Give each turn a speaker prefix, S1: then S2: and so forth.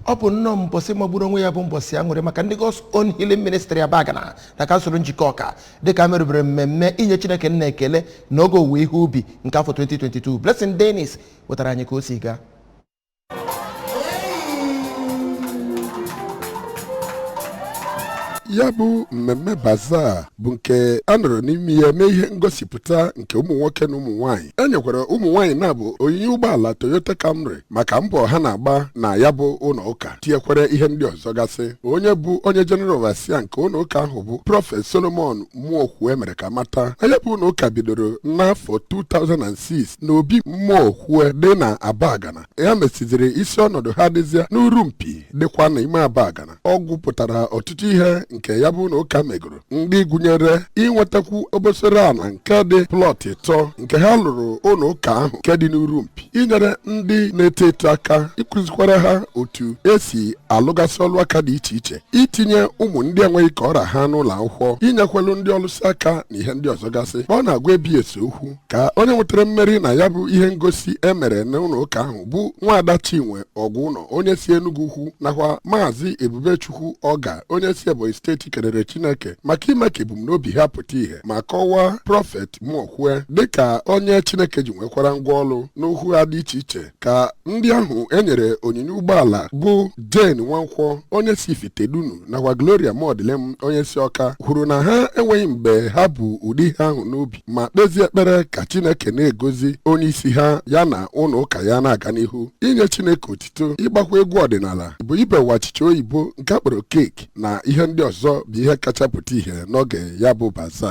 S1: ọ bụ nnọọ mbọsị magburu onwe ya bụ mbọsị aṅụrị maka ndị God's Own Healing Ministry Abagana na kansụl Njikọka dịka e merubere mmemme inye Chineke nna ekele na oge owuwe ihe ubi nke afọ 2022 Blessing Dennis wetara anyị ka o si gaa
S2: ya bụ mmemme baza bụ nke a nọrọ n'ime ya mee ihe ngosipụta nke ụmụ nwoke na ụmụ nwaanyị e nyekwara ụmụ nwaanyị naabọ onyinye ụgbọala Toyota Camry maka mbọ ha na-agba na ya bụ ụlọ ụka tinyekwara ihe ndị ọzọ gasị onye bụ onye General Overseer nke ụlọ ụka ahụ bụ prọfet solomon Mụọkwue mere ka a mata na ya bụ ụlọ ụka bidoro n'afọ 2006 na obi Mụọkwue dị na abagana ya mesiziri isi ọnọdụ ha dịzịa n'Urumpi dịkwa na ime abagana ọ gụpụtara ọtụtụ ihe nke ya bụ ụlọ ụka megoro ndị gụnyere inwetakwu obosara ala nke dị plọt ịtọ nke ha lụrụ ụlọ ụka ahụ nke dị n'urumpi inyere ndị na-eto eto aka ịkụzikwara ha otu esi alụgasị ọlụ aka dị iche iche itinye ụmụ ndị enweghị ka ọ ra ha n'ụlọ akwụkwọ inyekwelu ndị ọlụsị aka na ihe ndị ọzọ gasị ọ na-agwa ABS okwu ka onye nwetara mmeri na ya bụ ihe ngosi e mere n'ụlọ ụka ahụ bụ nwaada chinwe Ọgwụnọ onye si enugwu ukwu nakwa maazị ebubechukwu ọga onye si ebonyi steeti kelere chineke maka ime ka ebumnobi ha pụta ihe ma kọwaa prọfet mụọkwue dịka onye chineke ji nwekwara ngwa ọlụ n'okwu ha dị iche iche ka ndị ahụ e nyere onyinye ụgbọala bụ jane nwankwọ onye si ifitedunu nakwa gloria Mụọdịlịm onye si ọka kwuru na ha enweghị mgbe ha bu ụdị ihe ahụ n'obi ma kpezie ekpere ka Chineke na-egozi onye isi ha ya na ụlọ ụka ya na-aga n'ihu inye Chineke otito ịgbakwa egwu ọdịnala bụ ibewa achịcha oyibo nke a kpọrọ cake na ihe ndị ọzọ bụ ihe kacha pụta ihe n'oge ya bụ baza